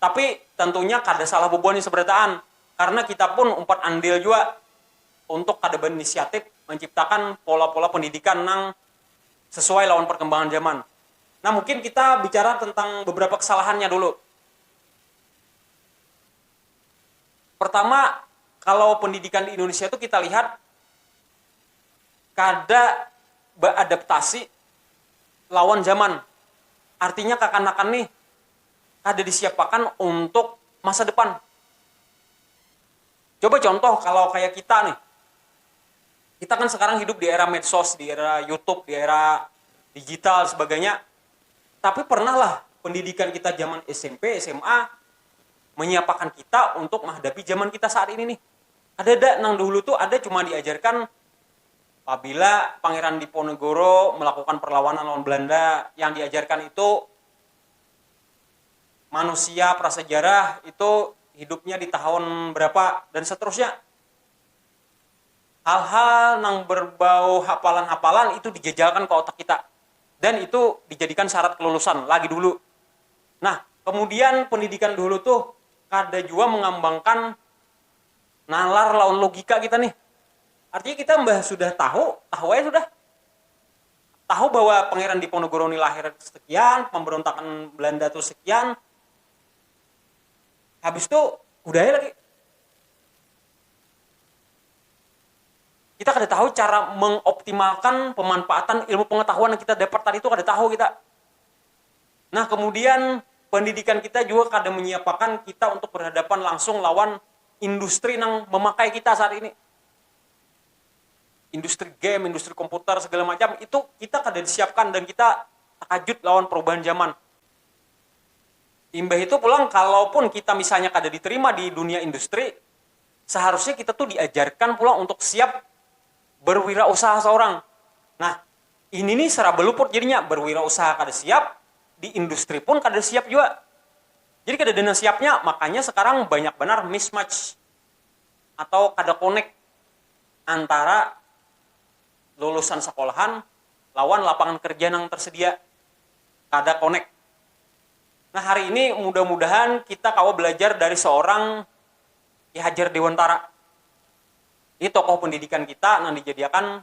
Tapi, tentunya kada salah bubuhan nih seberataan, karena kita pun umpat andil jua untuk kada berinisiatif manciptakan pola-pola pendidikan nang sesuai lawan perkembangan zaman. Nah, mungkin kita bicara tentang beberapa kesalahannya dulu. Pertama, kalau pendidikan di Indonesia tu kita lihat kada beadaptasi lawan zaman. Artinya, kakanakan nih. kada disiapakan untuk masa depan. Coba contoh kalau kaya kita nih, kita kan sekarang hidup di era medsos, di era youtube, di era digital dan sebagainya, tapi pernah lah pendidikan kita zaman smp, sma menyiapakan kita untuk menghadapi zaman kita saat ini nih, kadada, nang dahulu tu ada cuma diajarkan pabila Pangeran Diponegoro melakukan perlawanan lawan Belanda yang diajarkan itu. manusia prasejarah itu hidupnya di tahun berapa dan seterusnya hal-hal nang berbau hapalan-hapalan itu dijajalkan ke otak kita dan itu dijadikan syarat kelulusan lagi dulu nah kemudian pendidikan dulu tuh kada jua mengambangkan nalar lawan logika kita nih artinya kita mbah sudah tahu, tahu aja sudah. tahu bahwa Pangeran Diponegoro ni lahir sekian, pamberontakan Belanda tu sekian, habis tu udah ai lagi. Kita kada tahu cara mengoptimalkan pemanfaatan ilmu pengetahuan yang kita dapat tadi tu kada tahu kita. Nah kemudian pendidikan kita jua kada menyiapakan kita untuk berhadapan langsung lawan industri nang memakai kita saat ini. industri game, industri komputer segala macam itu kita kada disiapkan dan kita takajut lawan perubahan zaman. Imbah itu pulang kalaupun kita misalnya kada diterima di dunia industri, seharusnya kita tuh diajarkan pulang untuk siap berwirausaha seorang. Nah, ini nih seraba luput jadinya, berwirausaha kada siap, di industri pun kada siap jua. Jadi kadada nang siapnya, makanya sekarang banyak banar mismatch. atau kada connect antara lulusan sekolahan lawan lapangan kerja nang tersedia, kada connect. Nah hari ini mudah-mudahan kita kawa belajar dari seorang Ki Hajar Dewantara, ini tokoh pendidikan kita nang dijadiakan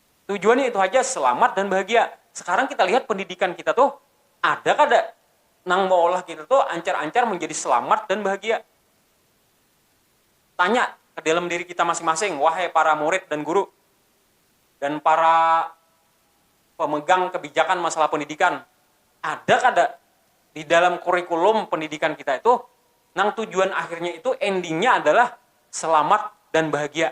Tujuannya itu haja, selamat dan bahagia. Sekarang kita lihat pendidikan kita tuh, ada kada nang maolah kita tuh ancar-ancar manjadi selamat dan bahagia. Tanya ke dalam diri kita masing-masing, wahai para murid dan guru, dan para pemegang kebijakan masalah pendidikan, ada kada di dalam kurikulum pendidikan kita itu, nang tujuan akhirnya itu, endingnya adalah selamat dan bahagia.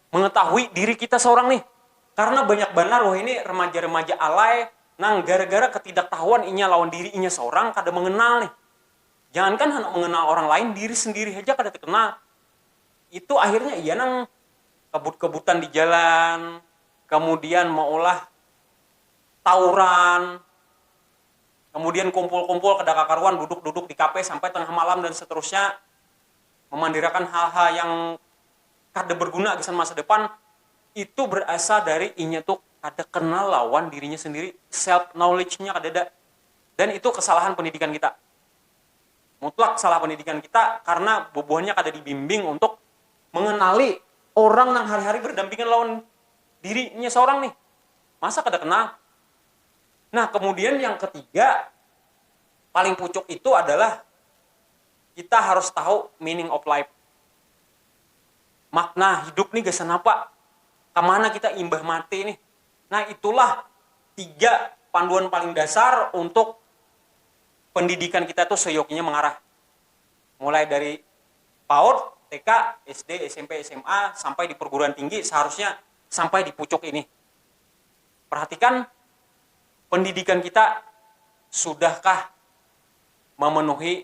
mengetahui diri kita seorang nih, karena banyak banar wahini remaja-remaja alay nang gara-gara ketidaktahuan inya lawan diri inya seorang kada mengenal nih, jangankan handak mengenal orang lain diri sendiri haja kada tekenal, itu akhirnya iya nang kebut-kebutan di jalan, kemudian meulah tauran, kemudian kumpul-kumpul kada kakaruan duduk-duduk di kafe sampai tengah malam dan seterusnya, memandirakan hal-hal yang. kada berguna gasan masa depan itu berasal dari inya tu kada kenal lawan dirinya sendiri self knowledge nya kadada dan itu kesalahan pendidikan kita mutlak salah pendidikan kita karna bubuhannya kada dibimbing untuk mengenali orang nang hari hari berdampingan lawan dirinya seorang nih masa kada kenal nah kemudian yang ketiga paling pucuk itu adalah kita harus tahu meaning of life. Makna hidup nih gasan apa? Kamana kita imbah mati nih? Nah itulah tiga panduan paling dasar untuk pendidikan kita tuh seyokinya mengarah. Mulai dari paud, TK, SD, smp, sma, sampai di perguruan tinggi seharusnya sampai di pucuk ini. Perhatikan pendidikan kita sudahkah memenuhi